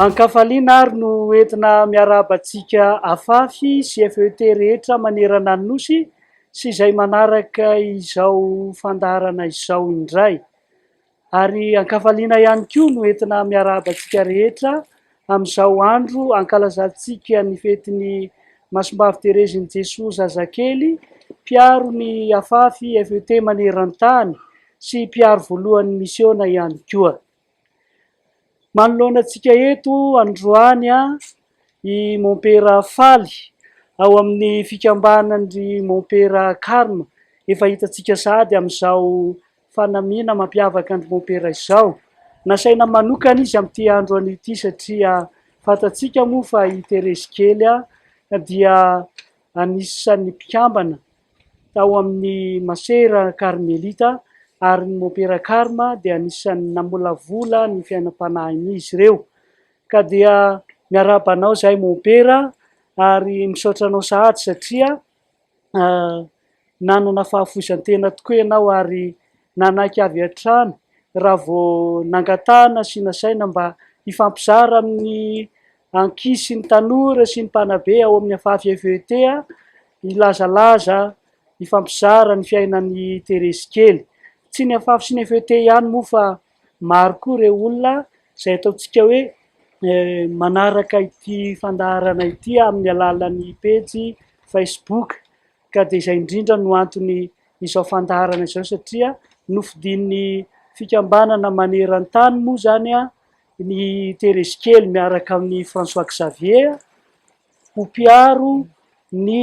An-kafaliana àry no entina miarahaba antsika afafy sy FET rehetra manerana ny Nosy sy izay manaraka izao fandaharana izao indray. Ary an-kafaliana ihany koa no entina miarahaba antsika rehetra amin'izao andro ankalazantsika ny fetin'i Masimbavy Terezin'i Jesoa Zazakely, mpiaro ny afafy FET maneran-tany sy mpiaro voalohan'ny misiona ihany koa. Manoloana antsika eto androany i Mompera Faly ao amin'ny fikambanan-dry Mompera Carme, efa hitantsika sahady amin'izao Fanamiana mampiavaka an-dry Mompera izao. Nasaina manokana izy amin'ity androany ity satria fantatsika moa fa i Terezy kely dia anisan'ny mpikambana tao amin'ny Masera Karmelita ary ny Mompera Karma dia anisan'ny namolavola ny fiainam-panahin'izy ireo. Ka dia miarahaba anao izahay Mompera ary misaotra anao sahady satria Nanana fahafoizan-tena tokoa ianao ary nanaiky avy hatrany raha vao nangatahana sy nasaina mba hifampizara amin'ny ankizy sy ny tanora sy ny mpanabe ao amin'ny Afafy FET hilazalaza, hifampizara ny fiainan'i Terezy kely. Tsy ny Afafy sy ny FET ihany moa fa Maro koa ireo olona izay ataontsika hoe manaraka ity fandaharana ity amin'ny alalan'ny pejy Facebook ka dia izay indrindra no antony izao fandaharana izao satria nofidin'ny fikambanana maneran-tany moa izany a ny Terezikely miaraka amin'ny François Xavier ho mpiaro ny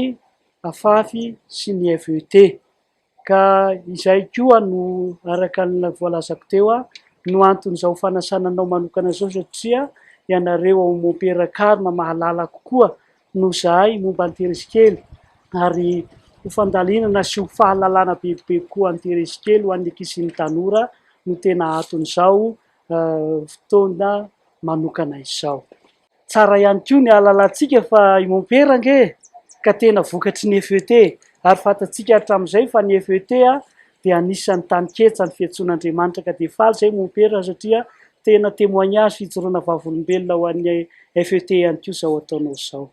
afafy sy ny FET. Ka izay koa no araka ny voalazako teo no anton'izao fanasana anao manokana izao satria ianareo ao Mompera Karma mahalala kokoa noho izahay momba an'i Teresikely ary ho fandalinana sy ho fahalalana bebe kokoa an'i Teresikely ho an'ny ankizy sy ny tanora no tena anton'izao fotoana manokana izao. Tsara ihany koa ny ahalalantsika fa i Mompera ange ka tena vokatry ny FET, ary fantatsika hatramin'izay fa ny FET dia anisan'ny tany ketsan'ny fiantsoan'Andriamanitra ka dia faly izay Mompera satria tena témoignage fijoroana vavolombelona ho an'ny FET ihany koa izao ataonao izao.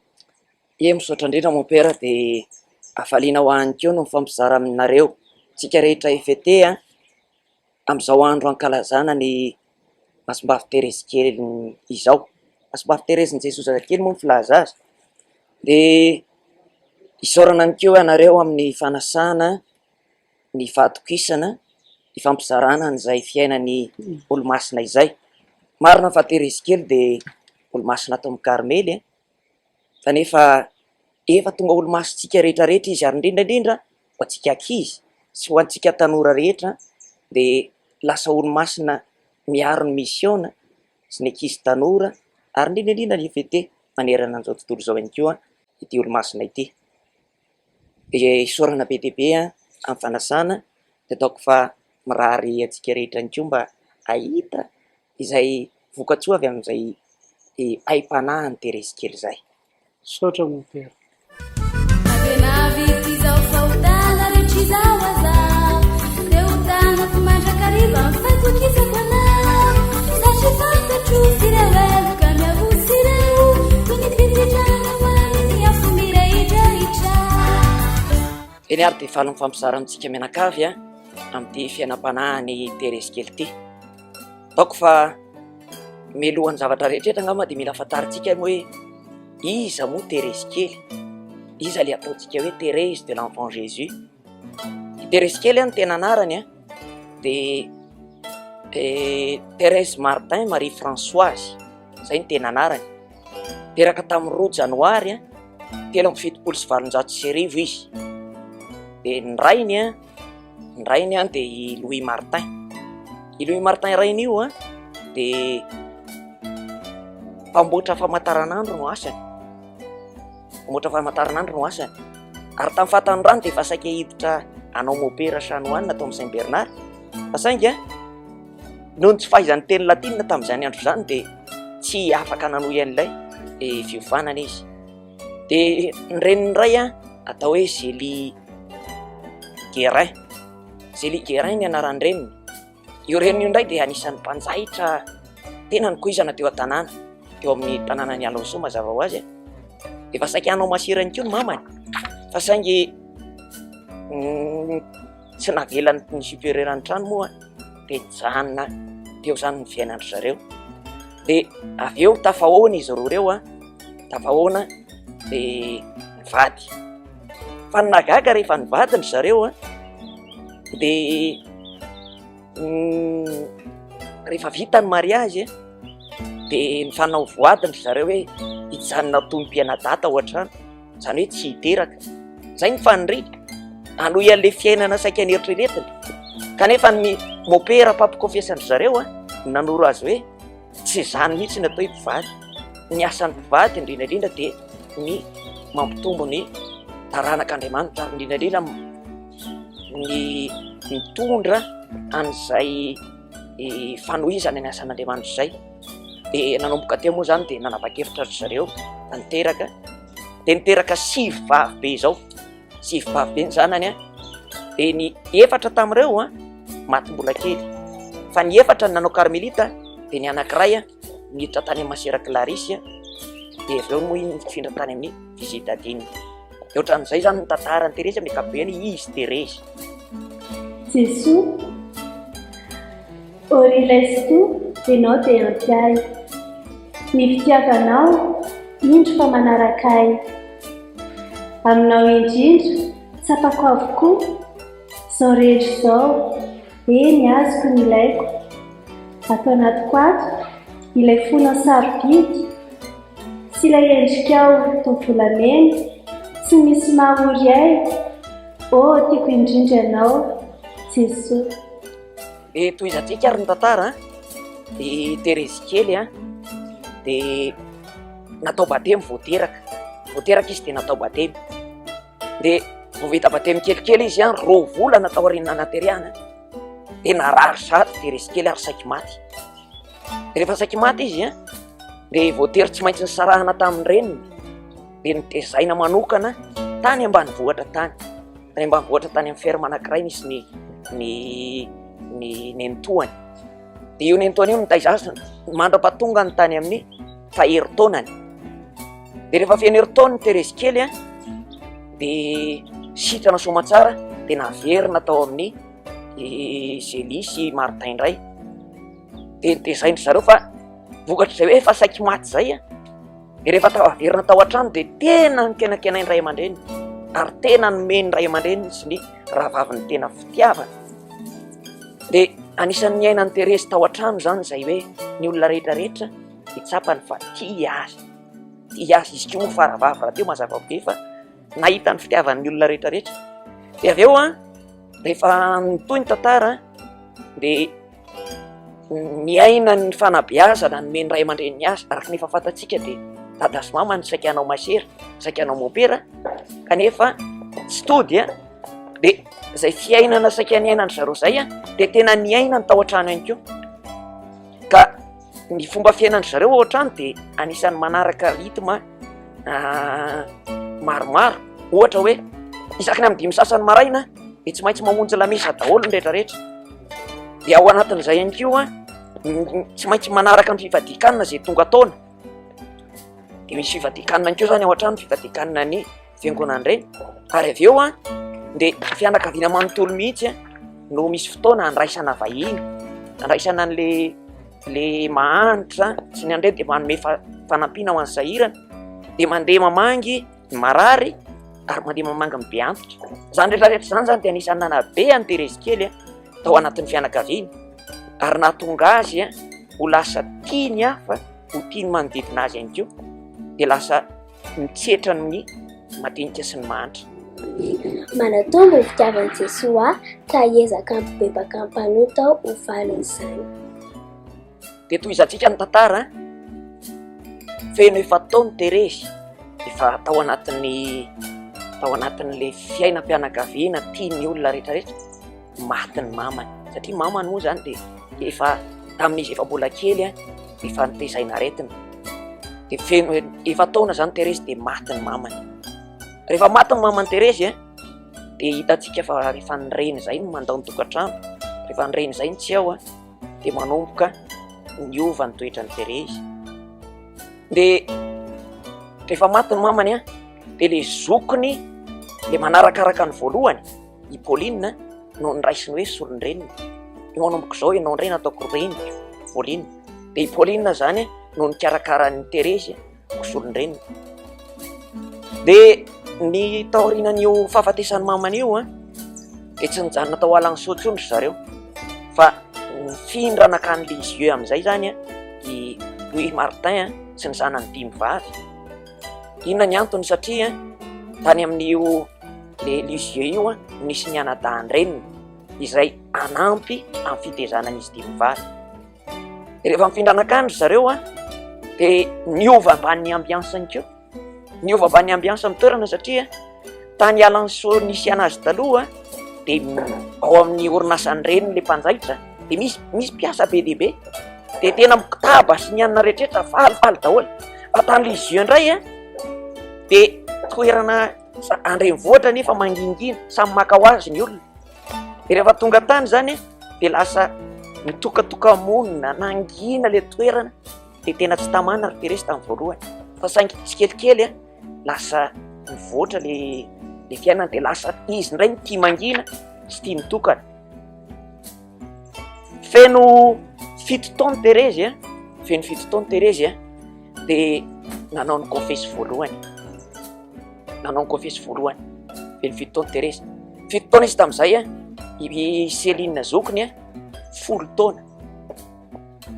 Ye, misaotra indrindra Mompera dia hafaliana ho ahy ihany koa ny mifampizara aminareo tsika rehetra FET a! Amin'izao andro ankalazana ny Masimbavy Terezy kely izao, Masimbavy Terezin'i Jesoa Zazakely moa ny filaza azy, dia isaorana ihany koa ianareo amin'ny fanasana, ny fahatokisana, ny fampizarana an'izay fiainan'ny Olomasina izay. Marina fa Terezy kely dia Olomasina tao amin'ny Karmely e! kanefa efa tonga olo-masontsika rehetra rehetra izy ary indrindra indrindra ho antsika ankizy sy ho antsika tanora rehetra dia lasa olo-masina miaro ny misiona sy ny ankizy tanora ary indrindra indrindra ny FET manerana an'izao tontolo izao ihany koa ity olo-masina ity dia isaorana be dia be amin'ny fanasana dia ataoko fa mirary antsika rehetra ihany koa mba hahita Izay vokatsoa avy amin'izay aim-panahiny Terezy kely izay. Misaotra mon père. Eny ary dia faly ny fampizarana antsika mianakavy amin'ity fiainam-panahin'i Terezy kely ity. Ataoko fa mialohan'ny zavatra rehetra angamba dia mila fantarintsika aloha hoe iza moa Terezy kely? Iza ilay ataontsika hoe Thérèse de l'Enfant Jésus? I Terezy kely no tena anarany an, dia eh, Thérèse Martin Marie Françoise, izay no tena anarany. Teraka tamin'ny roa janoary telo amby fitopolo sy valonjato sy arivo izy. Dia ny rainy an, Ny rainy an dia i Louis Martin. I Louis Martin rainy io an dia mpamboatra famantaranandro no asany. Mpamboatra famantaranandro no asany. Ary tamin'ny fatan'ny rano dia efa saika hiditra anao Maupera Chanoine atao amin'ny Saint Bernard. Fa saingy an, noho ny tsy fahaizan'ny teny latinina tamin'izany andro izany dia tsy afaka nanohy an'ilay eh, fiovanana izy. Dia ny reniny indray an, atao hoe Zélie Guérin. Zélie Guérin ny anaran-dreniny. Io reniny io indray dia anisan'ny mpanjaitra tena nikoizana teo an-tanàna, teo amin'ny tanànan'i Alençon mazava ho azy. Efa saika hanao masera ihany koa ny mamany fa saingy Tsy navelan'ny ny superieur ny trano moa dia nijanona teo izany ny fiainandry zareo. Dia avy eo tafahoana izy roa ireo, tafahoana dia nivady. Fa ny nagaga rehefa nivady ny zareo dia mm, rehefa vita ny mariage dia nifanao voady ny zareo hoe hijanona tompom-pianadata ao an-trano. Izany hoe tsy hiteraka. Izay ny faniriany. Hanohy an'ilay fiainana saika neritreretiny. Kanefa ny mopera mpampikofesan-dry zareo no nanoro azy hoe, Tsy izany mihitsy ny atao hoe mpivady. Ny asan'ny mpivady indrindra indrindra dia ny mampitombo ny taranak'Andriamanitra, ary indrindra indrindra ny mitondra an'izay fanohizana ny asan'Andriamanitra izay. dia nanomboka teo moa izany dia nanapa-kevitra ry zareo hanteraka, dia niteraka sivy vavy be izao, sivy vavy be ny zanany, dia ny efatra tamin'ireo maty mbola kely, fa ny efatra ny nanao karmelita, dia ny anankiray niditra tany amin'ny masera Clarisy, dia avy eo moa iny nifindra tany amin'ny Visit Adin. Dia ohatran'izay izany ny tantaran'i Terezy amin'ny ankapobeny, izy Terezy. Jesoa, orilesto de note antiahy. Ny fitiavanao, indro fa manaraka ahy. Aminao indrindra, tsapako avokoa, izao rehetra izao. Be ny azoko ny ilaiko, ato anatiko ato, ilay fona sarobidy, sy ilay endrikao toa volamena, tsy misy mahory ahy, oh tiako indrindra ianao, Jesoa. Dia tohizantsika eky ary ny tantara an! I Terezy kely an! Dia natao batemy vao teraka, vao teraka izy dia natao batemy. dia vao vita batemy kelikely izy an, roa volana tao aorian'ny nanaterehana dia narary sady dia resy kely ary saiky maty. Rehefa saiky maty izy an, dia voatery tsy maintsy nisarahana tamin'ny reniny dia nitezaina manokana tany ambanivohitra tany. Tany ambanivohitra tany amin'ny ferme anankiray nisy ny ny ny nenitoany. Dia io nenitoany io nitaiza azy mandra-pahatongany tany amin'ny faherintaonany. Dia rehefa feno herintaona Terezy kely a, dia sitrana soamatsara dia naverina tao amin'ny Zélie sy Martin indray. Dia nitezain-dry zareo fa vokatr'izay hoe efa saiky maty izay a. Dia rehefa tafaverina tao an-trano dia tena nikenakenain'ny ray aman-dreny ary tena nomen'ny ray aman-dreny sy ny rahavaviny tena fitiavana. Dia anisan'ny niainan'i Terezy tao an-trano izany izay hoe ny olona rehetra rehetra hitsapany fa tia azy. Tia azy izy koa moa fa rahavavy rahateo mazava be fa nahita ny fitiavan'ny olona rehetra rehetra. Dia avy eo an, rehefa nitohy ny tantara dia Miaina ny fanabeazana nomen'ny ray aman-dreniny azy, araka ny efa fantatsika dia dada sy mama no saika hanao masera, saika hanao mopera kanefa tsy tody an! dia izay fiainana saika niainan-dry zareo izay dia tena niainany tao an-trano ihany koa ka. ny fomba fiainandry zareo ao an-trano dia anisan'ny manaraka rythme ah, maromaro ohatra hoe isaky ny amin'ny dimy sasany maraina dia tsy maintsy mamonjy lamesa daholo ny rehetrarehetra dia ao anatin'izay ihany koa tsy maintsy manaraka ny fivadikanina izay tonga taona dia misy fivadikanina ihany koa izany ao an-trano fivadikanina ny fiangonana ireny ary avy eo an dia fianakaviana manontolo mihitsy an no misy fotoana andraisana vahiny andraisana an'le le mahanitra sy ny andreny dia manome fanampiana ho an'ny sahirana dia mandeha mamangy ny marary ary mandeha mamangy ny be antitra izany retraretra izany zany dia anisan'ny nanabe any terezy kely an tao anatin'ny fianakaviana ary nahatonga azy an ho lasa tia ny hafa ho tia ny manodidina azy ihany koa dia lasa Ny tsetra no ny madinika sy ny mahantra. Manatòha no fitiavan'i Jesoa ka hiezaka hampibebaka ny mpanota aho ho valin'izany. Dia tohizantsika ny tantara feno efa-taon'i Terezy, efa tao anatin'ny tao anatin'ilay fiainam-pianakaviana tian'ny olona rehetrarehetra. maty ny mamany satria mamany moa zany dia efa tamin'izy efa mbola kely a efa notezaina aretina dia feno efa taona zany Terezy dia maty ny mamany rehefa maty ny mamany Terezy a dia hitantsika fa rehefa ny reny zay no mandao ny tokantrano rehefa ny reny zay ny tsy ao a dia manomboka niova ny toetra ny Terezy dia rehefa maty ny mamany a dia le zokiny le manarakaraka ny voalohany i Pauline no noraisiny hoe solon-dreniny, manomboka izao ianao indray no ataoko reniko, Pauline. Dia i Pauline izany no nikarakara an'i Terezy ho solon-dreniny. Dia ny taorianan'io fahafatesan'i mamany io dia tsy nijanona tao Alanguisseau intsony ry zareo fa nifindra nankany Lisieux amin'izay izany i Louis Martin sy ny zanany dimy vavy. Inona ny antony? Satria tany amin'io le Lisieux io nisy ny anadahin-dreniny izay hanampy amin'ny fitezana an'izy ity mivady. Rehefa mifindra nankany ry zareo dia niova ambanin'ny ambiansany koa, niova ambanin'ny ambiansany toerana satria. Tany Alanso nisy an'azy taloha dia ao amin'ny orinasan'ny reniny ilay mpanjaitra dia misy misy mpiasa be dia be dia tena mikotaba sy ny anona rehetrarehetra falifaly daholo fa tany Lisieux indray a dia toerana sa- an-drenivohitra nefa mangingina samy maka ho azy ny olona dia rehefa tonga tany izany a dia lasa mitokatoka-monina nangina ilay toerana dia tena tsy tamana ry Teresa tamin'ny voalohany fa saingy tsikelikely a lasa mivoatra le le fiainany de lasa izy indray no tia mangina sy tia mitokana feno fito taona Terezy an feno fito taona Terezy an de nanao ny confesy voalohany nanao ny confesy voalohany feno fito taona Terezy fito taona izy tamin'izay an i Céline zokiny an folo taona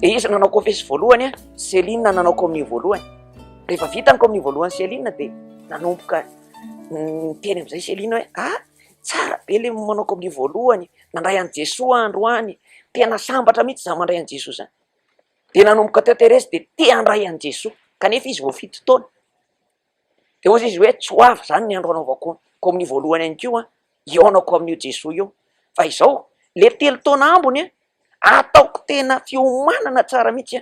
de izy nanao confesy voalohany an Céline nanao communion voalohany Rehefa vita ny kominio voalohany Céline dia nanomboka niteny amin'izay Céline hoe a ah, tsara be le manao kominio voalohany, nandray an'i Jesoa androany, tena sambatra mihitsy za mandray an'i Jesoa zany. Dia nanomboka teo Thérèse dia te handray an'i Jesoa, kanefa izy vao fito taona. Dia hoy izy hoe tsy ho avy zany ny andro anaovako kominio voalohany ihany koa, hihaonako amin'io Jesoa io. Fa izao, le telo taona ambiny ataoko tena fiomanana tsara mihitsy.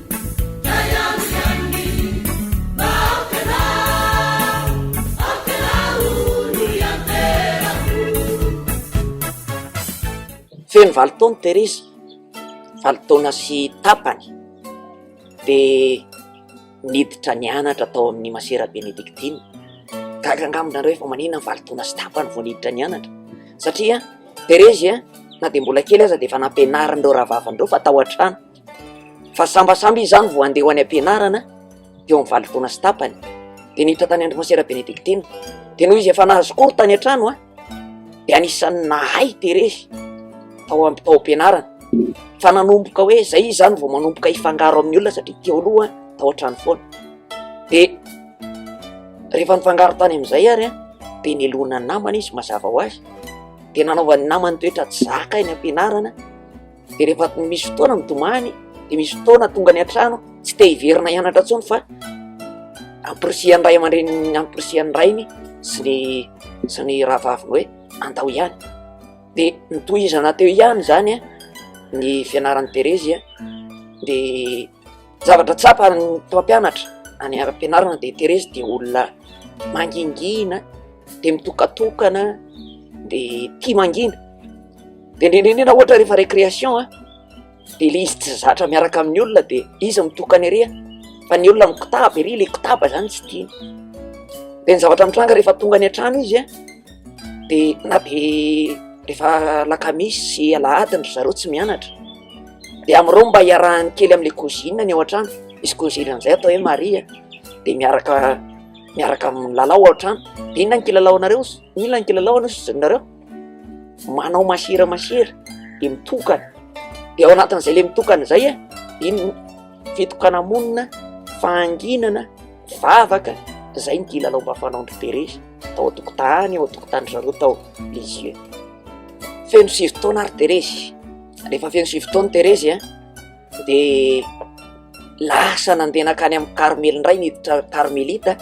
Feno valo taona i Terezy, valo taona sy tapany dia niditra nianatra tao amin'ny masera benediktina. Gaga angamba ianareo hoe maninona vao valo taona sy tapany vao niditra nianatra? Satria Terezy na dia mbola kely aza dia efa nampianarin'ireo rahavaviny ireo fa tao an-trano. Fa sambasamba izy izany vao handeha ho any am-pianarana teo amin'ny valo taona sy tapany dia niditra tany Andromasiera Benediktina. Dia noho izy efa nahazo cours tany an-trano dia anisan'ny nahay terezy tao am- tao am-pianarana. Fa nanomboka hoe izay izy izany vao manomboka hifangaro amin'ny olona satria teo aloha tao an-trano foana. Dia rehefa nifangaro tany amin'izay ary an dia neloana ny namany izy mazava ho azy, dia nanaovan'ny namany toetra tsy zaka eny am-pianarana. dia rehefa misy fotoana mitomany dia misy fotoana tonga any an-trano tsy te hiverina hianatra intsony fa ampirisihan'ny ray aman-dreniny ampirisihan'ny rainy sy ny sy ny rahavaviny hoe andao ihany dia nitohizana teo ihany izany a ny fianaran'i Terezy a dia Zavatra tsapan'ny mpampianatra any ara-pianarana dia Terezy dia olona mangingina, dia mitokatokana, dia tia mangina. Dia indrindrindrina ohatra rehefa récréation a, dia ilay izy tsy zatra miaraka amin'ny olona dia izy mitokana ery a, fa ny olona mikotaba ery, ilay kotaba izany tsy tiany. Dia ny zavatra mitranga rehefa tonga any an-trano izy a, dia na dia rehefa alakamisy sy alahady ry zareo tsy mianatra. dia amin'ireo no mba hiarahany kely amin'ilay cousine ny ao an-trano, misy cousine an'izay atao hoe Maria, dia miaraka miaraka milalao ao an-trano, dia inona no kilalaonareo ozy? Inona no kilalaona ozy nareo? Manao masira masira, dia mitokana, dia ao anatin'izay ilay mitokana izay an, dia iny fitokana-monina, fahanginana, vavaka, izay no kilalao mba fanaon-dry Terezy tao an-tokotany, ao an-tokotanin-dry zareo tao Lisieux. Feno sivy taona ary Terezy. rehefa feno sivy taona Terezy an, de lasa nandeha nankany amin'ny Karmely indray niditra Karmelita,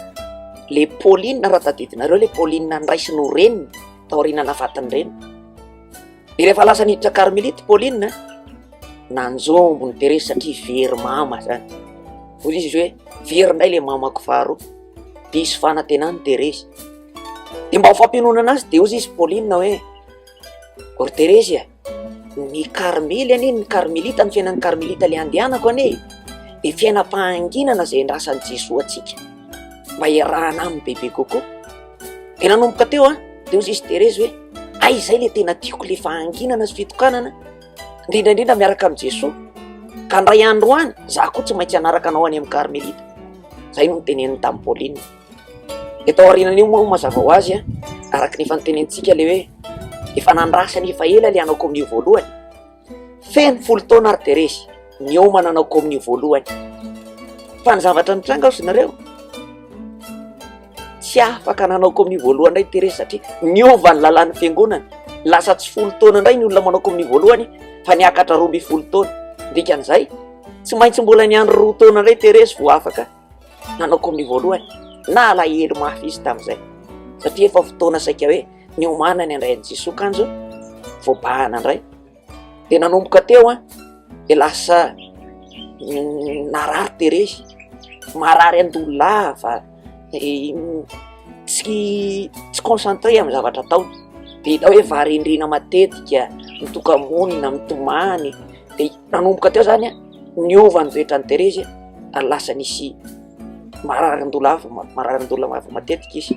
le Paoline raha tadidinareo le Paoline andraisiny ho reniny taoriana nahafatin'ny reniny, de rehefa lasa niditra Karmelita i Paoline an, nanjombo an'i Terezy satria very mama zany, hoy izy hoe very indray le mamako faharoa, diso fanantenana i Terezy, de mba ho fampiononana azy de hoy izy Paoline hoe ry Terezy an, Ny karmely anie, ny karmelita, ny fiainan'ny karmelita ilay andehanako anie dia fiainam-pahanginana izay andrasan'i Jesoa antsika mba hiarahana aminy bebe kokoa. Dia nanomboka teo aho, dia hoy izy Thérèse hoe hay izay ilay tena tiako ilay fahanginana sy fitokanana, indrindra indrindra miaraka amin'i Jesoa, ka indray andro any izaho koa tsy maintsy hanaraka anao any amin'ny karmelita. Izay no noteneniny tamin'i Pauline. Eto aorianan'io moa mazava ho azy araka ny efa notenenintsika ilay hoe efa nandrasana efa ela ilay hanao kominio voalohany, feno folo taona ary dia resy niomana hanao kominio voalohany. Fa ny zavatra nitranga hozy nareo, tsy afaka nanao kominio voalohany indray Thérèse satria niova ny lalàn'ny fiangonana, lasa tsy folo taona indray ny olona manao kominio voalohany fa niakatra roa ambin'ny folo taona, dikan'izay tsy maintsy mbola niandry roa taona indray Thérèse vao afaka. Nanaoko amin'ny voalohany, nalahelo mafy izy tamin'izay, satria efa fotoana saika hoe niomanany indray an'i Jesoa kanjo voabahana indray. Dia nanomboka teo an, dia lasa narary terezy, marary an-doha lava, tsy tsy concentré amin'ny zavatra ataony, dia hita hoe varendrena matetika, mitoka-monina, mitomany, dia nanomboka teo izany an. niova ny vetran'i Terezy ary lasa nisy mararin-doha lava, mararin-doha lava matetika izy.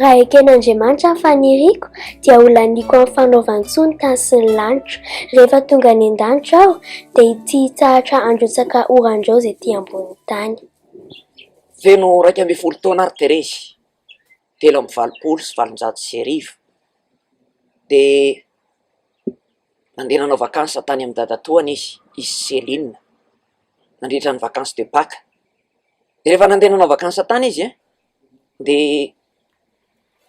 Raha eken'Andriamanitra ny faniriako, dia ho laniako amin'ny fanaovan-tsoa ny tany sy ny lanitra. Rehefa tonga any an-danitra aho, dia ity hitsahatra handrotsaka oran-draozy ety ambonin'ny tany. Feno iraika ambin'ny folo taona àry Terezy, telo amby valopolo sy valonjato sy arivo dia nandeha nanao vakansy tany amin'ny dadatoany izy, i Céline, nandritra ny vakansy de Pâques, dia rehefa nandeha nanao vakansy tany izy an, dia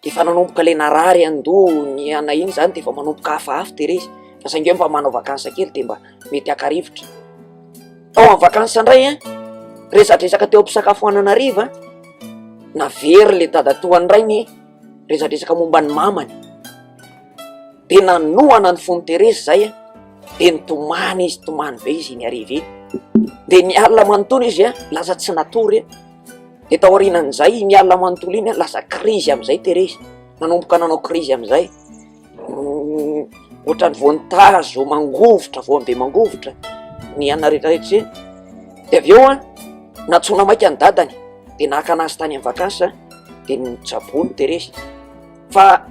efa nanomboka ilay narary an-doha niha-na iny izany dia efa manomboka hafahafa tery izy fa saingy hoe mba manao vakansy kely dia mba mety haka rivotra. Tao amin'ny vacances indray an, resadresaka teo am-pisakafoanana hariva, navery le dadatoa indray ny resadresaka momba ny mamany, de nanohana ny fon'i Terezy zay an, de nitomany izy, nitomany be izy iny hariva iny, de ny alina manontolo izy an, lasa tsy natory, de taorianan'izay iny alina manontolo iny an, lasa krizy amin'izay Terezy, nanomboka nanao krizy amin'izay. ohatran'ny vonintazo mangovitra, voam-be mangovitra ny anona rehetra rehetra izay, dia avy eo an, nantsoina maika ny dadany dia naka an'azy tany amin'ny vacances dia nitsaboa ny Teresy, fa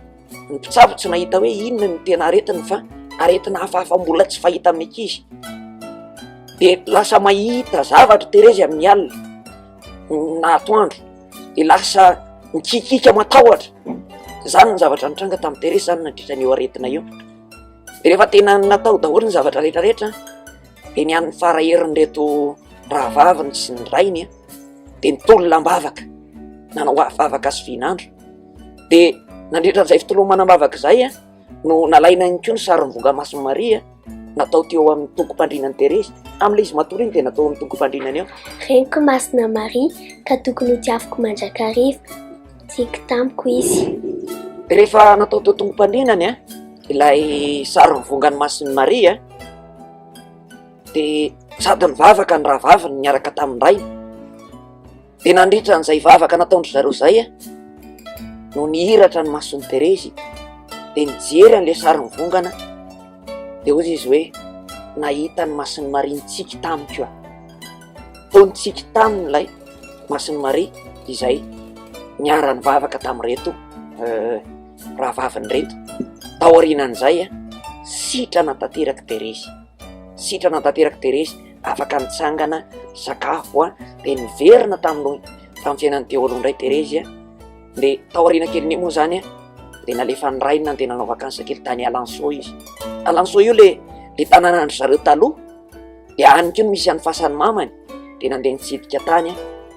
ny mpitsabo tsy nahita hoe inona no tena aretiny fa aretina hafahafa mbola tsy fahita amin'ny ankizy, dia lasa mahita zavatra i Teresy amin'ny alina na atoandro. de lasa mikikika matahotra, zany ny zavatra nitranga tamin'i Teresy zany nandritra an'io aretina io, de rehefa tena natao daholo ny zavatra rehetra rehetra de ny an'ny fara herin'ireto rahavaviny sy ny rainy an de nitolona am-bavaka nanao vavaka sy vinandro de nandritra an'izay fitolomana am-bavaka izay an. no nalaina ihany koa ny sarin'ny vongamasin'i Maria natao teo amin'ny tongom-pandrinan'i Terezy. Tamin'ilay izy matory iny dia natao amin'ny tongom-pandrinany eo. Reniko masina Maria ka tokony ho tiaviko mandrakariva. Tiako tamiko izy. Rehefa natao teo tongom-pandrinany a, ilay sarin'ny vongany masin'i Maria dia sady nivavaka ny rahavaviny niaraka tamin-drainy. Dia nandritra an'izay vavaka nataon-dry zareo izay no nihiratra ny mason'i Terezy, dia nijery an'ilay sary mivongana, dia hoy izy hoe nahita ny masin'i Maria nitsiky tamiko aho. Toa nitsiky taminy ilay masin'i Maria izay niara-nivavaka tamin'ireto rahavaviny ireto. Taorianan'izay, sitrana tanterak'i Terezy, sitrana tanterak'i Terezy. afaka nitsangana sakafo a de niverina tamin'ny tamin'ny fiainan'ny daholo indray terezy a de taoriana kelin'iny moa zany a de nalefa ny rainy nandeha nanao vakansa kely tany alanso izy alanso io le le tanàna andry zareo taloha de any ko no misy an'ny fasan'ny mamany de nandeha nitsidika tany a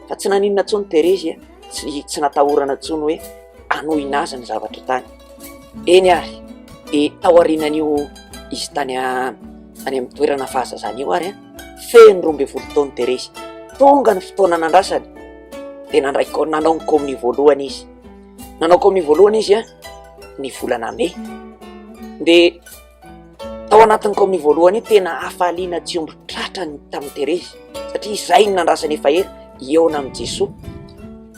fa tsy naninona intsony terezy a tsy tsy natahorana intsony hoe hanohina azy ny zavatra tany. Eny ary, dia tao aorianan'io izy tany tany amin'ny toerana fahazazana io ary feno roa ambin'ny folo taona Teresy. Tonga ny fotoana nandrasany dia nandray nanao ny kaominio voalohany izy. Nanao kaominio voalohany izy ny volana mey dia. Tao anatin'ny kaominia voalohany io tena hafaliana tsy omby tratra ny tamin'i Terezy satria izay no nandrasany efa ela hihaona amin'i Jesoa.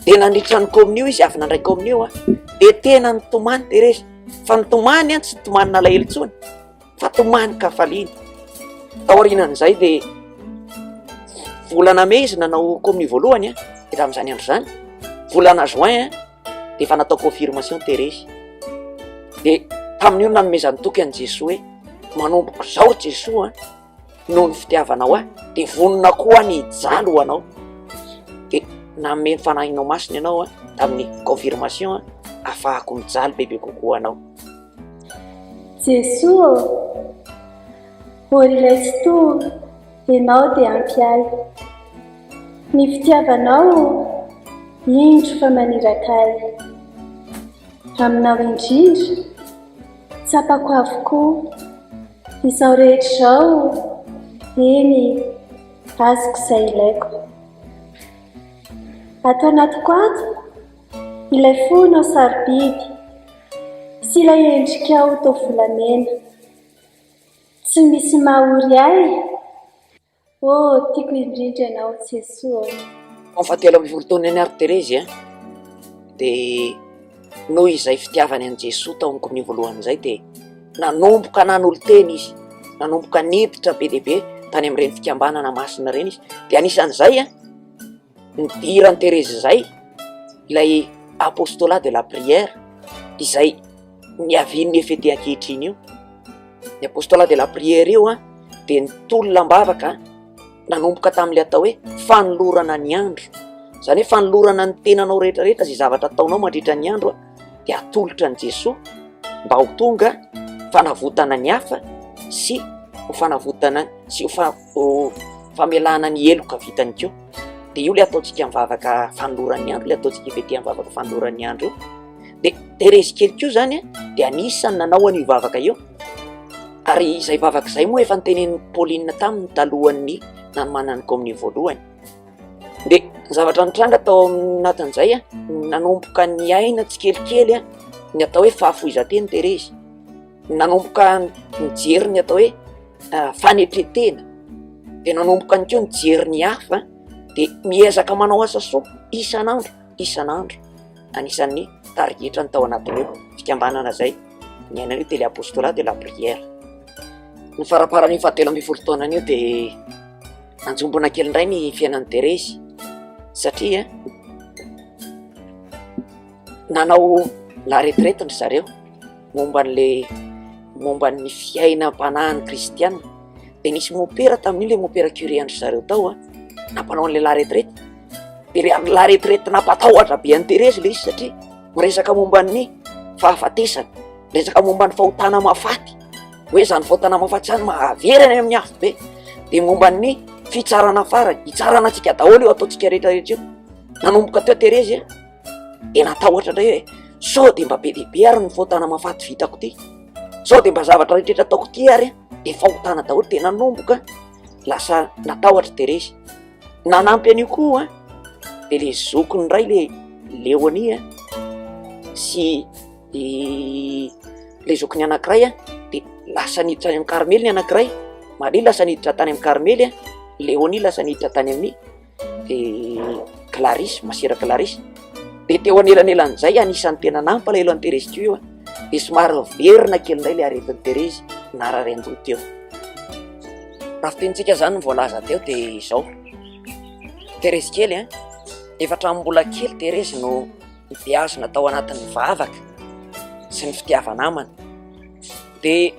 Dia nandritra ny kaominia io izy avy nandray kaominia io dia tena nitomany Terezy fa nitomany tsy nitomany nalahelo intsony fa tomany ka faliana. Tao aorianan'izay dia volana mey izy nanao kaominia voalohany dia tamin'izany andro izany volana juin de efa natao confirmation terezy de tamin'io nanomezan'ny toky an'i Jesoa hoe manomboka izao Jesoa noho ny fitiavanao ahy de vonona koa ny hijaly ho anao de nanome ny fanahinao masina ianao a tamin'ny confirmation a afahako mijaly bebe kokoa anao Jesoa ô, ô ilay fitory Ianao dia ampy ahy. Ny fitiavanao indro fa maniraka ahy. Aminao indrindra, tsapako avokoa izao rehetra izao, eny, azoko izay ilaiko. Ato anatiko ato, ilay fonao sarobidy sy ilay endrikao toa volamena. Tsy misy mahory ahy ô. Oh, tiako indrindra ianao Jesoa ô. Tamin'ny fahatelo ambin'ny folo taonany ary Terezy dia noho izay fitiavany an'i Jesoa tao amin'ny komininy voalohany izay dia nanomboka nanolo-tena izy, nanomboka niditra be dia be tany amin'ireny fikambanana masina ireny izy, dia anisan'izay an. Nidiran'i Terezy izay ilay Apostolat de la prière izay niavian'ny FET ankehitriny io. Ny Apostolat de la prière io dia nitolona am-bavaka nanomboka tamin'ilay atao hoe fanolorana ny andro. Izany hoe fanolorana ny tenanao rehetrarehetra izay zavatra ataonao mandritra ny andro dia atolotra an'i Jesoa mba ho tonga fanavotana ny hafa sy ho fanavotana sy ho fa- Ho famelana ny heloka vitany ko dia io le ataontsika amin'ny vavaka fanoloran'ny andro, le ataontsika IVT amin'ny vavaka fanoloran'ny andro io. Dia Thérèse kely ko zany dia anisan'ny nanao an'io vavaka io. Ary izay vavaka izay moa efa nitenenin'i Pauline taminy talohan'ny nanomanan'ny kaominina voalohany. Dia ny zavatra nitranga tao anatin'izay nanomboka niaina tsikelikely ny atao hoe fahafoizan-teny Thérèse. nanomboka nijery ny atao hoe fanetren-tena dia nanomboka ihany koa nijery ny hafa dia miezaka manao asa soa isan'andro isan'andro anisan'ny tarigetrany tao anatin'ireo fikambanana izay ny anay hoe tele apostolats de la prière ny faramparan'io fahatelo ambin'ny folo taonany io dia nanjombona kely indray ny fiainan'i Terezy satria nanao la retraite ry zareo momba an'ilay momba ny fiainam-panahin'ny kristiana dia nisy mopera tamin'io ilay mopera curé an-dry zareo tao a nampanao an'ilay la retraite dia ilay la retraite nampatahotra be an'i Thérèse ilay izy satria miresaka momba ny fahafatesana miresaka momba ny fahotana mahafaty hoe izany fahotana mahafaty izany mahavery any amin'ny afobe dia momba ny fitsarana farany hitsarana antsika daholo io ataontsika rehetra rehetra io nanomboka teo Thérèse a dia natahotra indray hoe sao dia mba be dia be ary ny fahotana mahafaty vitako ity sao dia mba zavatra rehetrretra ataoko ity ary dia fahotana daholo dia nanomboka lasa natahotra dia resy nanampy an'io koa a dia le zokiny indray le leoni a sy le zokiny anankiray a dia lasa niditra any amin'ny karmely ny anankiray maria lasa niditra tany amin'ny karmely a leoni lasa niditra tany amin'ny dia Clarisse, masera Clarisse, dia teo anelanelan'izay anisan'ny tena nampalahelo an'i Thérèse teo io an, dia somary niverina kely indray ilay aretin'i Thérèse narary an-doha teo. Raha fitenintsika izany ny voalaza teo dia izao, Thérèse kely an, efa hatramin'ny mbola kely Thérèse no nibeazina tao anatin'ny vavaka sy ny fitiava-namana. Dia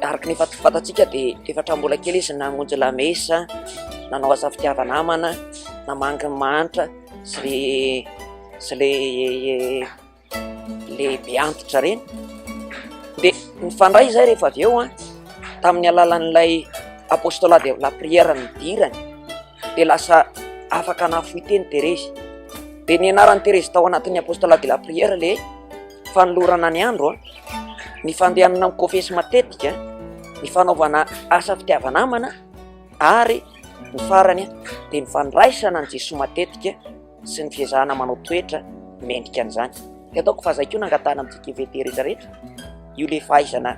araka ny efa fantatsika dia efa hatramin'ny mbola kely izy namonjy lamesa, nanao asa fitiava-namana, namangy ny mahantra sy le sy le le be antitra ireny. Dia nifandray izay rehefa avy eo an, tamin'ny alalan'ilay apostolat de la prière nidirany dia lasa afaka nahafoy teny Terezy. Dia nianaran'i Terezy tao anatin'ny apostolat de la prière le. fanolorana ny andro, ny fandehanana mikôfesy matetika, ny fanaovana asa fitiava-namana ary ny farany dia ny fandraisana an'i Jesoa matetika sy ny fiezahana manao toetra mendrika an'izany. Dia ataoko fa izay koa no angatahana amintsika IVT rehetra rehetra, io le fahaizana.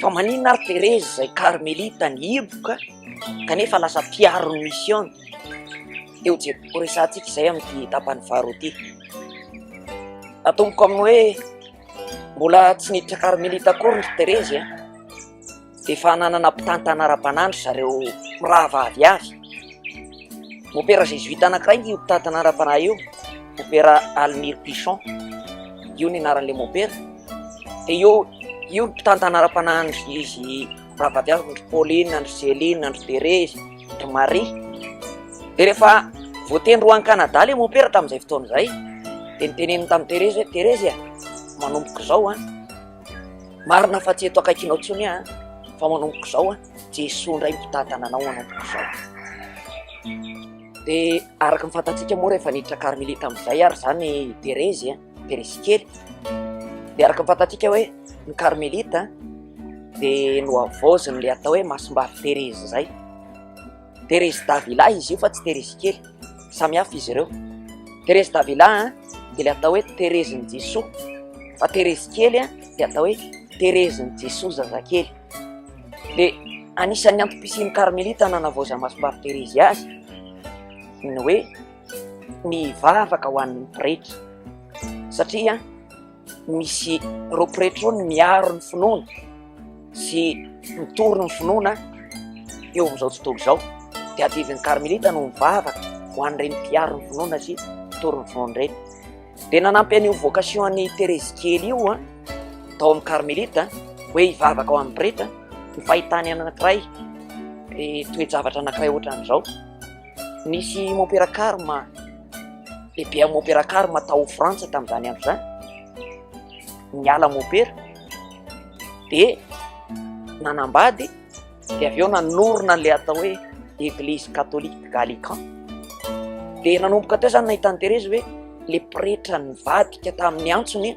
Fa maninona ary Therese izay karmelita nihiboka kanefa lasa mpiaro ny misiona? Eo je ho resahantsika izay amin'ity tapany faharoa ity. Atomboka amin'ny hoe mbola tsy niditra karmelita akory ry Therese an! Dia efa nanana mpitantana ara-panahy ry zareo mirahavavy avy. Opera Jésuite anankiray ny hopitaha Tanànam-panahy io, Opera Almir Pichon, io ny anaran'le Opera, de io io ny mpitaha Tanànam-panahy andry izy Ravadiavy andry Pauline andry Céline andry Thérèse andry Marie, de rehefa voatendry ho any Canada le Opera tamin'izay fotoana izay, de noteneniny tamin'i Thérèse hoe Thérèse a, manomboka izao an. Marina fa tsy eto akaikinao intsony aho fa manomboka izao aho, Jesoa indray mitantana anao manomboka izao. Dia araka ny fantatsika moa rehefa niditra karmelita amin'izay ary izany Terezy a, Terezy kely, dia araka ny fantatsika hoe ny karmelita dia nohavaoziny ilay atao hoe masimbavy Terezy izay. Thérèse Davila izy io fa tsy Terezy kely, samy hafa izy ireo. Thérèse Davila dia ilay atao hoe Terezin'i Jesoa, fa Terezy kely dia atao hoe Terezin'i Jesoa zazakely. Dia anisan'ny antom-pisian'ny Karmelita nanavaozan'i Masompavy Terezy azy ny hoe ny vavaka ho an'ny pretra satria Misy ireo pretra ireo ny miaro ny finoana sy mitory ny finoana eo amin'izao tontolo izao. Dia adidin'ny karmelita no mivavaka ho an'ireny mpiaro ny finoana sy mitory ny finoana ireny. Dia nanampy an'io vocation an'i Terezy kely io an, tao amin'ny karmelita hoe hivavaka ho an'ny pretra ny fahitany anankiray eh, toe-javatra anankiray ohatran'izao. Nisy Mompera Karma, lehibe amin'ny Mompera Karma tao Frantsa tamin'izany andro izany, niala Mompera, dia nanambady, dia avy eo nanorina an'ilay atao hoe Eglise Catholique de Gallican. Dia nanomboka teo izany nahitan'i Terezy hoe le pretra nivadika tamin'ny antsony,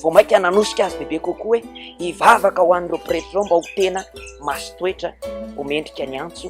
vao mainka nanosika azy bebe kokoa hoe hivavaka ho an'ireo pretra ireo mba ho tena masin-toetra, ho mendrika ny antso.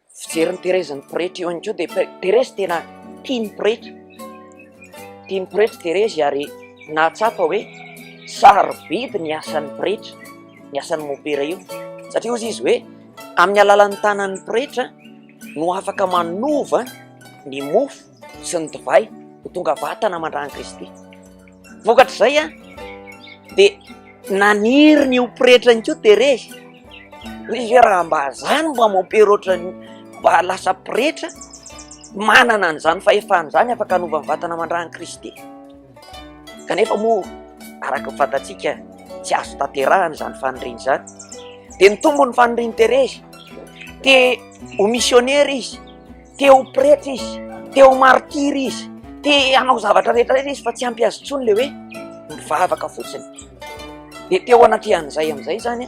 Fijery ny Therese ny pretra eo ihany koa dia Therese tena tia ny pretra, tia ny pretra i Therese ary nahatsapa hoe sarobidy ny asan'ny pretra, ny asan'ny mopera io satria hozy izy hoe amin'ny alalan'ny tanan'ny pretra no afaka manova ny mofo. sy ny divay ho tonga vatana aman-dran'i Kristy. Vokatr'izay an, dia naniry ny ho pretra ihany koa Terezy. Hoe izay raha mba zany mba mampera ohatran'ny mba lasa pretra, manana an'izany fahefana izany afaka hanova ny vatana aman-dran'i Kristy. Kanefa moa araka ny fantatsika tsy azo tanterahana izany faniriana izany. Dia nitombo ny fanirian'i Terezy. Te ho misionera izy. te ho pretra izy, te ho martiry izy, te hanao zavatra rehetra rehetra izy fa tsy ampy azy intsony le hoe mivavaka fotsiny. Dia teo anatrehan'izay amin'izay izany,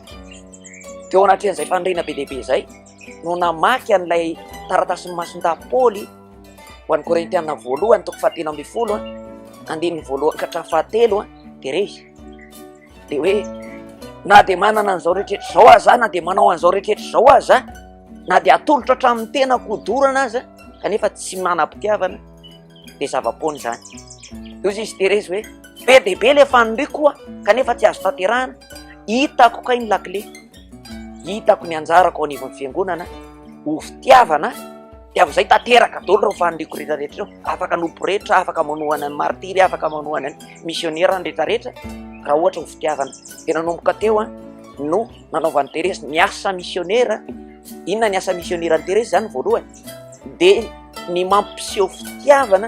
teo anatrehan'izay fanirina be dia be izay no namaky an'ilay taratasin'ny masindaha Paoly ho an'ny Korintiana voalohany toko fahatelo ambin'ny folo, andininy voalohany ka hatramin'ny fahatelo dia re izy. de hoe na de manana an'izao rehetrarehetra zao aza aho na de manao an'izao rehetrarehetra zao aza aho na de atolotra hatramin'ny tenako ho dorana aza kanefa tsy manam-pitiavana de zava-poana izany eo izy izy terezy hoe be de be le faniriako koa kanefa tsy azo tanterahana hitako kay ny lakile Hitako ny anjarako ao anivon'ny fiangonana ho fitiavana dia amin'izay tanteraka daholo ireo faniriako rehetra rehetra ireo afaka no pretra afaka manohana ny martiry afaka manohana ny missionnaire ny rehetra rehetra raha ohatra ho fitiavana dia nanomboka teo a no nanaovan'i Terezy ny asa missionnaire inona ny asa missionnaire an'i Terezy izany voalohany dia ny mampiseho fitiavana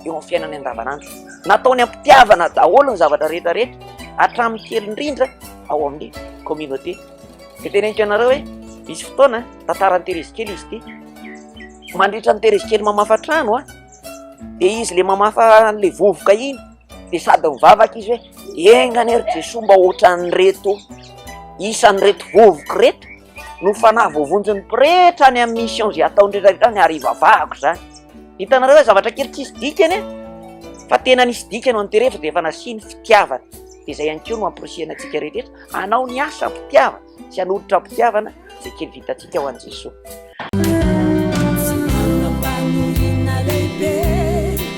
eo amin'ny fiainany andavanandro. Nataony am-pitiavana daholo ny zavatra rehetra rehetra, hatramin'ny kely indrindra ao amin'ny communauté. Dia teneniko ianareo hoe misy fotoana tantaran'i Terezy kely izy ity. Mandritra ny Terezy kely mamafa trano, dia izy le mamafa le vovoka iny, dia sady mivavaka izy hoe enga anie ry Jesoa mba ohatran'ireto isan'ireto vovoka ireto. no fanahy voavonjin'ny pretra any amin'ny mission izay ataony rehetra rehetra any ary ivavahako izany hitanareo hoe zavatra kely tsisy dikany e fa tena nisy dikany an'ity rehetra dia efa nasiany fitiavana dia izay ihany koa no amporisihana antsika rehetra anao ny asa mpitiavana sy hanolotra mpitiavana izay kely vitantsika ho an'i Jesoa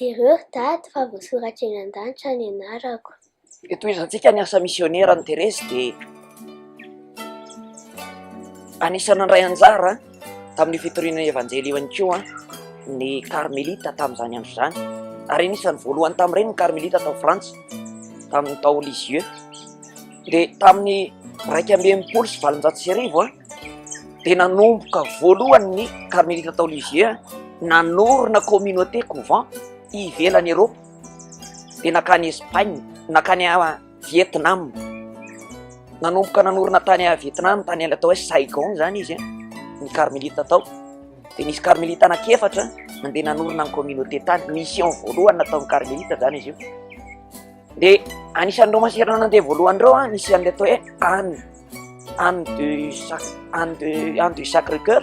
Jereo ry dada fa voasoratra eny an-danitra ny anarako. Dia tohizantsika ny asa misionera an'i Terezy dia anisan'ny nandray anjara tamin'io fitoriana evanjely io ihany koa ny karmelita tamin'izany andro izany ary anisan'ny voalohany tamin'ireny ny karmelita tao Frantsa tamin'ny tao Lisieux. dia tamin'ny iraika amby enimpolo sy valonjato sy arivo an, dia nanomboka voalohany ny Carmelite tao Lisieux, nanorina communauté couvent ivelan'i Eropa, dia nankany Espagne, nankany Vietnam, nanomboka nanorina tany Vietnam, tany atao hoe Saigon izany izy an, ny Carmelite tao, dia nisy Carmelite anankiefatra nandeha nanorina ny communauté tany, mission voalohany nataon'ny Carmelite izany izy io. Dia anisan'ireo maseranan dia voalohany ireo an, nisy an'ilay atao hoe Anne, Anne de Sac, Anne de Anne du Sacré Cœur.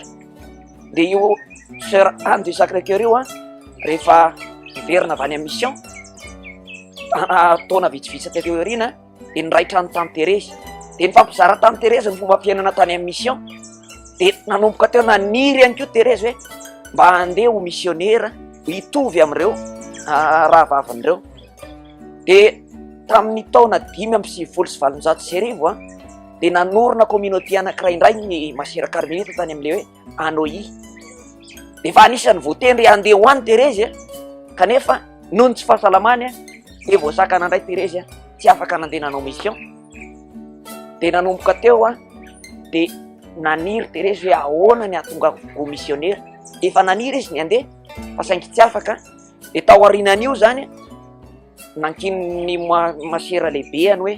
Dia io sœur Anne du Sacré Cœur io an, rehefa hiverina avy any amin'ny mission, taona vitsivitsy teo aoriana, dia niray trano tany Terezy. Dia nifampizara tany Terezy ny fomba fiainana tany amin'ny mission. Dia nanomboka teo naniry ihany koa Terezy hoe mba handeha ho missionnaire hitovy amin'ireo rahavavin'ireo. dia tamin'ny taona dimy amby sivifolo sy valonjato sy arivo an dia nanorina communauté anankiray indray ny masera karmelita tany amin'ilay hoe anohi dia efa anisan'ny voatendry handeha ho any terezy kanefa noho ny tsy fahasalamany an dia voasakana indray terezy an tsy afaka nandeha nanao mission dia nanomboka teo an dia naniry terezy hoe ahoana ny hahatonga go missionnaire efa naniry izy ny handeha fa saingy tsy afaka De tao aorianan'io zany, nankinin'ny ma- masera lehibeany hoe,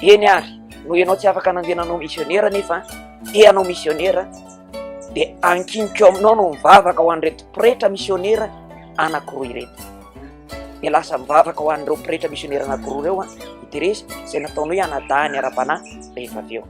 eny ary, noho ianao tsy afaka nandeha nanao misionera nefa te hanao misionera, dia ankiniko aminao no mivavaka ho an'ireto pretra misionera anankiroa ireto. Dia lasa mivavaka ho an'ireo pretra misionera anankiroa ireo i Terezy, izay nataony hoe anadahy ny ara-panahy rehefa avy eo.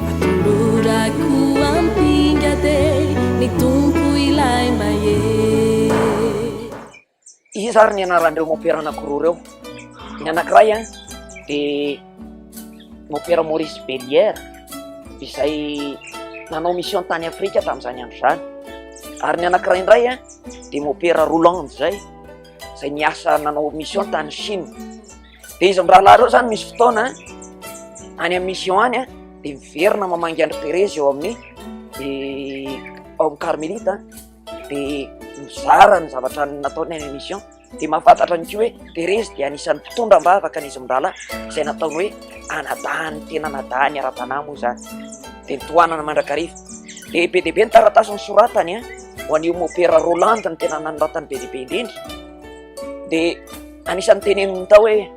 Atolorako ampinga de ny Tompo ilay mahery. Iza ary ny anaran'ireo mopera anankiroa ireo? Ny anankiray dia mopera Maurice Bellière izay nanao mission tany Afrika tamin'izany andro izany, ary ny anankiray indray dia mopera Roland izay izay niasa nanao mission tany Chine. Dia izy mirahalahy ireo izany misy fotoana any amin'ny mission any dia miverina mamangy andry Perez eo amin'ny ao amin'ny Carmelite dia mizara ny zavatra nataony any amin'ny mission dia mahafantatra ny koa hoe Perez dia anisan'ny mpitondra ambavaka an'izy mirahalahy izay nataony hoe anadahany tena anadahany ara-panahy moa izany dia nitohanana mandrakariva dia be dia be ny taratasy ny soratany ho an'io mopera Roland ny tena nanoratany be dia be indrindra dia anisan'ny teneniny tao hoe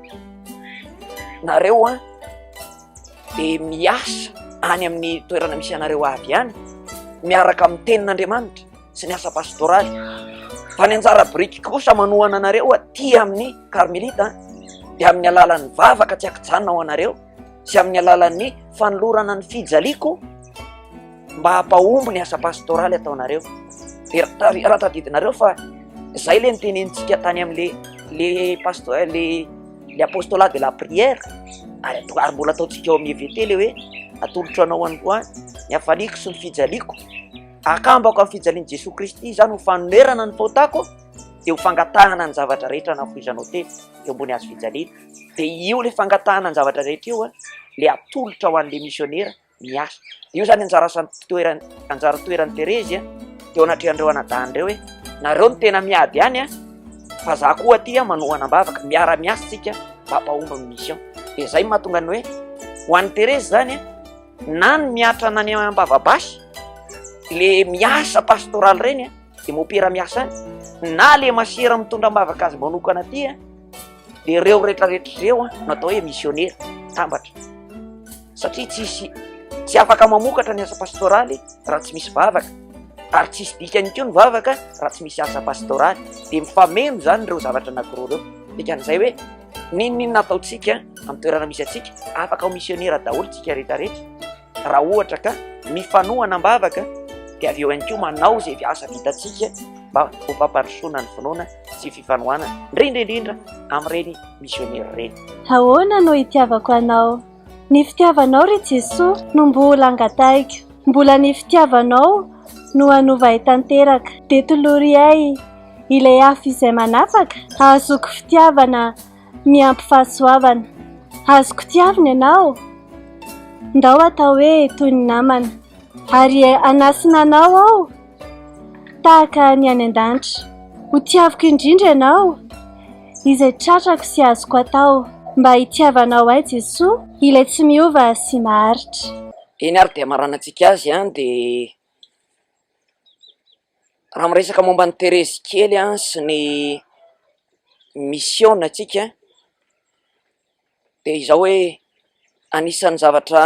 nareo a dia miasa any amin'ny toerana misy anareo avy ihany miaraka amin'ny tenin'andriamanitra sy ny asa pastoraly fa ny anjara biriky kosa manohana anareo aty amin'ny karmelita dia amin'ny alalan'ny vavaka tsy akijanona ao anareo sy amin'ny alalan'ny fanolorana ny fijaliako mba hampahomby ny asa pastoraly ataonareo dia raha tadidinareo fa zay le nitenenintsika tany am'le le pasto eh, le le apostola de la prière ary ary mbola ataontsika ao amin'ny evt le hoe atolotro anao any koa ny afaliako sy ny fijaliako akambako amin'ny fijalian'i jesoa kristy izany ho fanonerana ny faotako dia ho fangatahana ny zavatra rehetra nafoizanao tefy eo ambony azo fijaliana dia io ilay fangatahana ny zavatra rehetra io ilay atolotra ho an'ilay misionera miasa. Dia io izany anjara asany toerany, anjara toeran'i Terezy teo anatrehan'ireo anadahiny ireo hoe nareo no tena miady any a, fa za koa aty manohana am-bavaka, miara-miasa isika mba hampahomby amin'ny mission. Dia izay mahatonga ny hoe ho an'i Terezy izany na ny mihatra any am-bava basy, ilay miasa pastoraly ireny a. dia mopera miasa any na le masera mitondra ambavaka azy manokana aty a dia reo retraretra reo a no atao hoe missionera tambatra satria tsisy tsy afaka mamokatra ny asa pastoraly raha tsy misy vavaka ary tsisy dikany ko ny vavaka raha tsy misy asa pastoraly dia mifameno zany reo zavatra anakiro reo dikan'izay hoe ninoninona ataontsika am'toerana misy atsika afaka ho missionera daholo tsika retraretra Raha ohatra ka mifanohana am-bavaka dia avy eo ihany koa manao izay asa vitantsika mba ho fampandrosoana ny finoana sy fifanohanana, indrindra indrindra amin'ireny misionera ireny. Ahoana no itiavako Anao? Ny fitiavanao, ry Jesoa, no mbola angatahiko. Mbola ny fitiavanao no hanova ahy tanteraka. Dia tolory ahy ilay afo izay manapaka, hahazoako fitiavana. miampy fahasoavana Azoko tiavina ianao Ndao atao hoe toy ny namana Ary hanasina anao aho Tahaka ny any an-danitra Ho tiaviko indrindra ianao Izay tratrako sy azoko atao Mba hitiavanao ahy Jesoa Ilay tsy miova sy maharitra Eny ary dia hamaranantsika azy dia Raha miresaka momba an'i Terezy kely sy ny misiona antsika dia izao hoe anisan'ny zavatra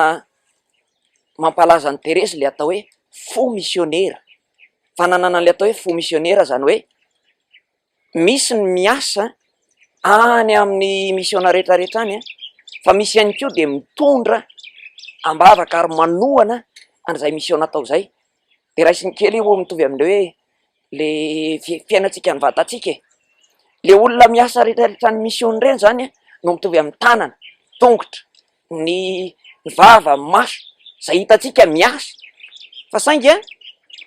mampalaza an'i Terezy ilay atao hoe fo misionera, fananana ilay atao hoe fo misionera izany hoe. misy ny miasa any amin'ny misiona rehetra rehetra any fa misy ihany koa dia mitondra am-bavaka ary manohana an'izay misiona atao izay, dia raisiny kely io mitovy amin'ny hoe ilay fiainantsika mivatantsika e! ilay olona miasa rehetra rehetra any misiona ireny izany no mitovy amin'ny tanana, tongotra. ny vava, ny maso izay hitantsika miasa fa saingy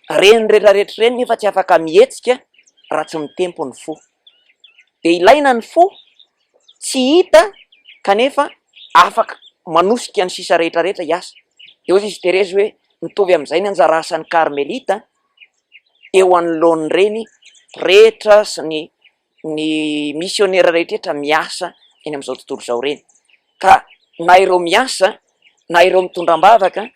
ireny rehetra rehetra ireny nefa tsy afaka mihetsika raha tsy mitempo ny fo dia ilaina ny fo tsy hita kanefa afaka manosika ny sisa rehetra rehetra hiasa dia hoy izy Terezy hoe mitovy amin'izay ny anjara asan'ny karmelita eo anoloan'ny reny pretra sy ny ny misionera rehetra miasa eny amin'izao tontolo izao ireny ka na ireo miasa na ireo mitondra am-bavaka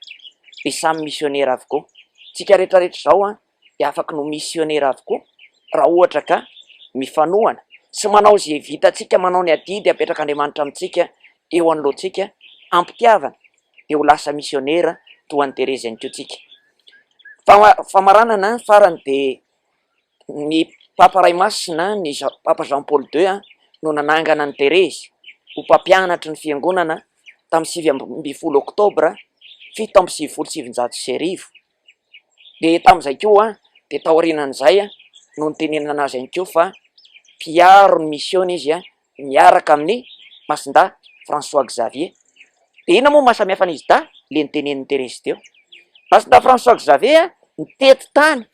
dia samy misionera avokoa. Tsika rehetra rehetra izao an dia afaka no misionera avokoa raha ohatra ka mifanohana sy manao izay vitantsika, manao ny adidy apetrak'Andriamanitra amintsika eo anoloantsika am-pitiavana dia ho lasa misionera toa an'i Terezy ihany koa tsika. Famaranana farany dia Ny Papa Ray Masina, ny Papa Jean Paul ii, no nanangana an'i Terezy ho mpampianatry ny Fiangonana tamin'ny sivy ambin'ny folo oktobra fito amby sivifolo sy sivinjato sy arivo. Dia tamin'izay koa, dia taorianan'izay no nitenenana azy ihany koa fa mpiaro ny misiona izy. miaraka amin'ny Masindahy François Xavier. Dia inona moa no mahasamihafa an'izy dahy? Ilay notenenin'i Terezy teo. Masindahy François Xavier nitety tany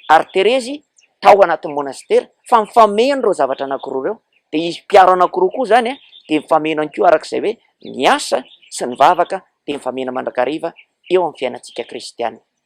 ary Terezy tao anatin'ny monasitera fa mifameno ireo zavatra anankiroa ireo. Dia izy mpiaro anankiroa koa izany dia mifameno ihany koa araka izay hoe ny asa sy ny vavaka dia mifameno mandrakariva eo amin'ny fiainantsika kristiana.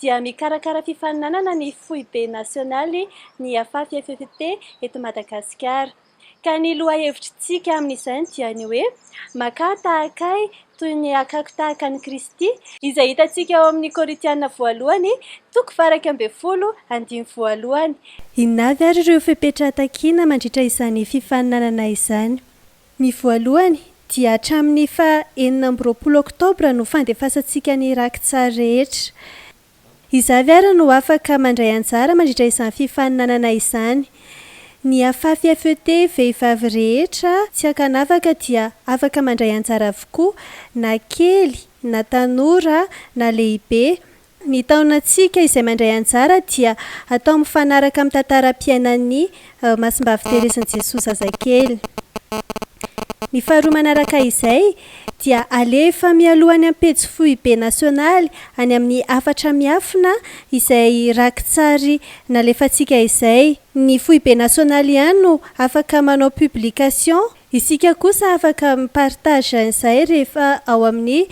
dia mikarakara fifaninanana ny foibe nasionaly ny Afafy FFT eto Madagasikara. Ka ny lohahevitr'tsika amin'izany dia ny hoe, Makà tahaka Ahy toy ny hakako tahaka an'i Kristy, izay hitantsika ao amin'ny Korintiana voalohany toko faha iraika ambin'ny folo andininy voalohany. Inona avy ary ireo fepetra takiana mandritra izany fifaninanana izany? Ny voalohany dia hatramin'ny faha enina amby roapolo oktobra no fandefasantsika ny raki-tsary rehetra. Izaho avy ary no afaka mandray anjara mandritra izany fifaninanana izany. Ny afafy FET vehivavy rehetra tsy ankanavaka dia afaka mandray anjara avokoa na kely na tanora na lehibe Ny taonantsika izay mandray anjara dia atao mifanaraka amin'ny tantaram-piainan'ny Masimbavy Terezin'i Jesoa Zazakely. Ny faharoa manaraka izay dia alefa mialoha any amin'ny pejy foibe nasionaly any amin'ny hafatra miafina izay raki-tsary nalefantsika izay. Ny foibe nasionaly ihany no afaka manao publication Isika kosa afaka mi partage an'izay rehefa ao amin'ny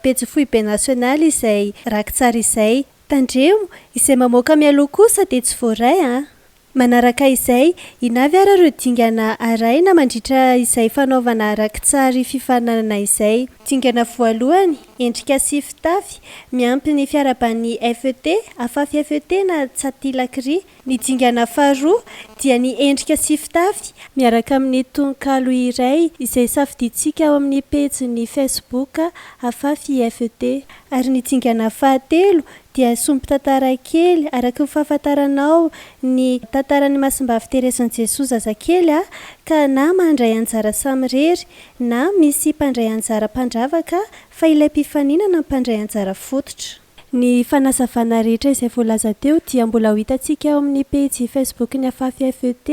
pejy foibe national izay rakitsary izay. Tandremo, izay mamoaka mialoha kosa dia tsy voaray an! Manaraka izay, ina avy ara ireo dingana arahina mandritra izay fanaovana rakitsary fifaninanana izay? Dingana voalohany, endrika sy fitafy, miampy ny fiaraban'ny FET, afafy FET na Tsatilakria, Ny dingana faharoa dia ny endrika sy fitafy miaraka amin'ny tononkalo iray izay safidintsika ao amin'ny pejin'ny Facebook Afafy IFT. Ary ny dingana fahatelo dia sombin-tantara kely araka ny fahafantaranao ny tantaran'i Masimbavy Terezin'i Jesoa zazakely a ka na mandray anjara samirery na misy mpandray anjara mpandravaka fa ilay mpifaninana mpandray anjara fototra. Ny fanazavana rehetra izay voalaza teo dia mbola ho hitantsika ao amin'ny pejy Facebook-n'ny Afafy FET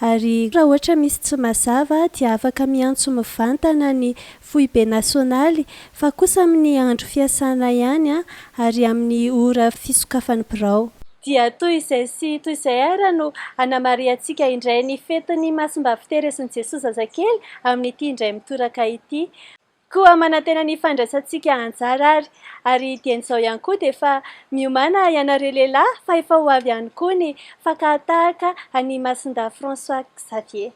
ary raha ohatra misy tsy mazava dia afaka miantso mivantana ny Foibe Nasionaly fa kosa amin'ny andro fiasana ihany ary amin'ny ora fisokafan'ny birao. Dia toy izay sy toy izay ary no hanamarihantsika indray ny fetin'ny Masimbavy Terezin'i Jesoa Zazakely amin'ity indray mitoraka ity. Koa manantena ny fandraisantsika anjara ary. Ary dieny izao ihany koa dia fa miomàna ianareo lehilahy fa efa ho avy ihany koa ny fankahatahaka an'i Masindahy François Xavier.